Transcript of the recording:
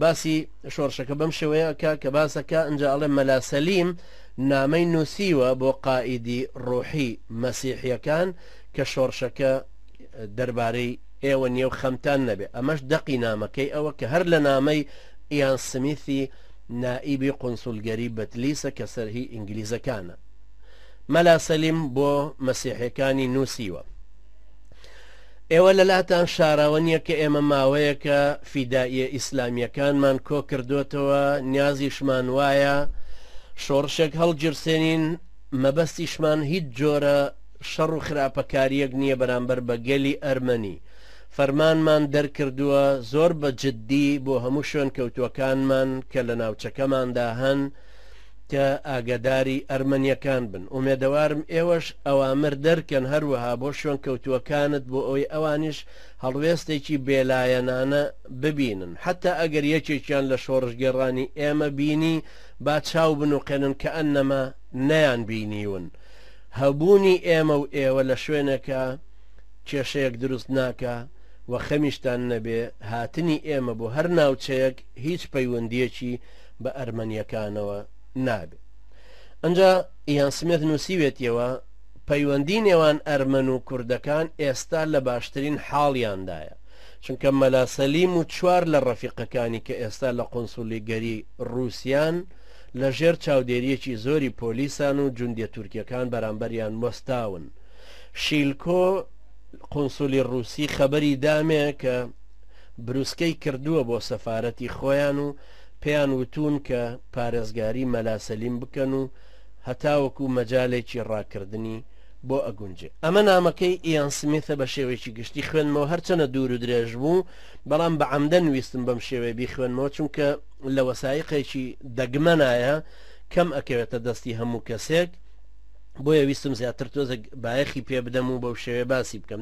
باسی شۆڕشەکە بەم شێوەیە ئەکا کە باس ئەکا ئینجا ئەڵێ مەلا سەلیم نامەی نووسیوە بۆ قائیدی ڕۆحی مەسیحییەکان کە شۆڕشەکە دەربارەی ئێوە نییە و خەمتان نەبێ ئەمەش دەقی نامەکەی ئەوە کە هەر لە نامەی ئیان سمیثی نائیبی قونسولگەری بەتلیسە کە سەرهی ئینگلیزەکانە مەلا سەلیم بۆ مەسیحەکانی نووسیوە ئێوە لەلاتان شاراوە نیە کە ئێمە ماوەیەکە فیدائیە ئیسلامیەکانمان کۆ کردۆتەوە نیازیشمان وایە شۆڕشێک هەڵگیرسێنین مەبەستیشمان هیچ جۆرە شەڕ و خراپەکاریەک نیە بەرامبەر بە گەلی ئەرمەنی فەرمانمان دەرکردووە زۆر بە جدی بۆ هەموو شوێنکەوتوەکانمان کە لە ناوچەکەماندا هەن کە ئاگەداری ئەرمەنیەکان بن ئومێدەوارم ئێوەش ئەوامر دەرکەن هەروەها بۆ شوێنکەوتووەکانت بۆ ئەوەی ئەوانیش هەڵوێستێکی بێلایەنانە ببینن حەتا ئەگەر یەکێکیان لە شۆڕشگێڕانی ئێمە بینی با چاو بنوقێنن کەئەنەما نەیان بینیون هەبوونی ئێمە و ئێوە لە شوێنێکا کێشەیەک دروست ناکا و خەمیشتان نەبێ هاتنی ئێمە بۆ هەر ناوچەیەک هیچ پەیوەندیەکی بە ئەرمەنیەکانەوە نابێت ئەنجا یان سمێت نووسیوێتیەوە پەیوەندی نێوان ئەرمەن و کوردەکان ئێستا لە باشترین حاڵیاندایە چونکە مەلاسەلیم و چوار لە ڕەفیقەکانی کە ئێستا لە قۆنسولی گەری رووسیان لە ژێر چاودێریەکی زۆری پۆلیسان و جوندیە تورکیەکان بەرامبەریان وەستاون شیلکۆ قۆنسولی رووسی خەبەری دامێ کە بروسکەی کردووە بۆ سەفارەتی خۆیان و پێیان وتوون کە پارێزگاری مەلا سەلیم بکەن و هەتاوەکو مەجالێکی ڕاکردنی بۆ ئەگونجێ. ئەمە نامەکەی ئیان سمیثە بە شێوەیەکی گشتی خوێندمەوە هەرچەنە دوور و درێژ بوو بەڵام بە عەمدەن ویستم بەم شێوەیە بیخوێنمەوە چونکە لە وەسایقێکی دەگمەنایە کەم ئەکەوێتە دەستی هەموو کەسێک بۆیە ویستم زیاتر تۆزێک بایەخی پێ بدەم و بەو شێوەیە باسی بکەم.